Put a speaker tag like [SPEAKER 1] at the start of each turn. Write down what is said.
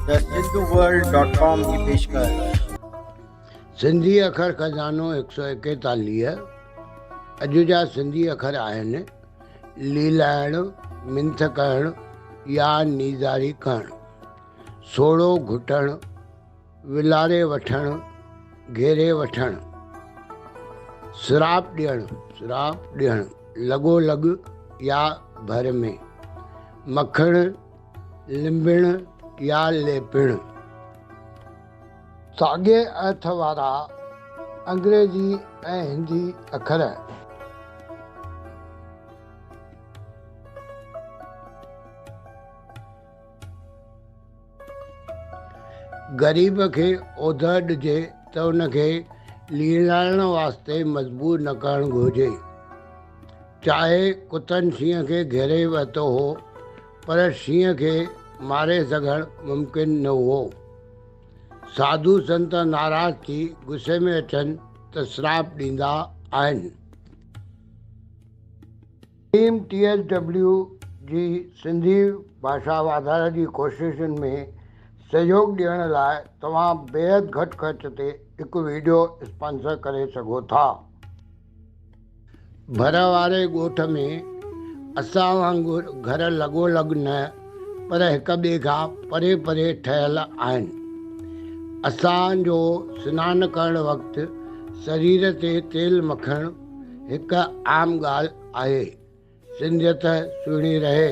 [SPEAKER 1] ته Sindhu world dot
[SPEAKER 2] com جي پيشڪش. سنڌي اکر خزانو هڪ سؤ ايڪيتاليهه اڄ جا سنڌي اکر آهن، ليلائڻ، منٿ ڪهڻ يا نيزاري ڪهڻ، سوڙهو گهٽڻ، ولاري وٺڻ، گهيري وٺڻ، سراپ ڏيڻ، سراپ ڏيڻ، لڳو لڳ يا ڀر ۾، مکڻ، لنبڻ يا ليپڻ، ساڳئي ارٿ وارا انگريزي ۽ هندي اکر. غريب کي اوڌر ڏجي ته ان کي ليلائڻ واسطي مجبور نه ڪرڻ گهرجي. چاهي ڪتن شينهن کي گهيري ورتو هو، پر شينهن کي ماري سگهڻ ممڪن نه هئو. ساڌو سنت ناراض ٿي غصي ۾ اچن ته سراپ ڏيندا آهن. ٽيم ٽي ايس ڊبليو جي سنڌي ڀاشا واڌاري جي ڪوششن ۾ سهيوڳ ڏيڻ لاء توهان بيحد گهٽ خرچ تي هڪ وڊيو اسپانسر ڪري سگهو ٿا. ڀر واري ڳوٺ ۾ اسان وانگر گهر لڳو لڳ نه پر هڪ ٻئي کان پري پري ٺهيل آهن. اسان جو سنان ڪرڻ وقت سرير تي تيل مکڻ هڪ عام ڳالهه آهي. سنڌيت سهڻي رهي.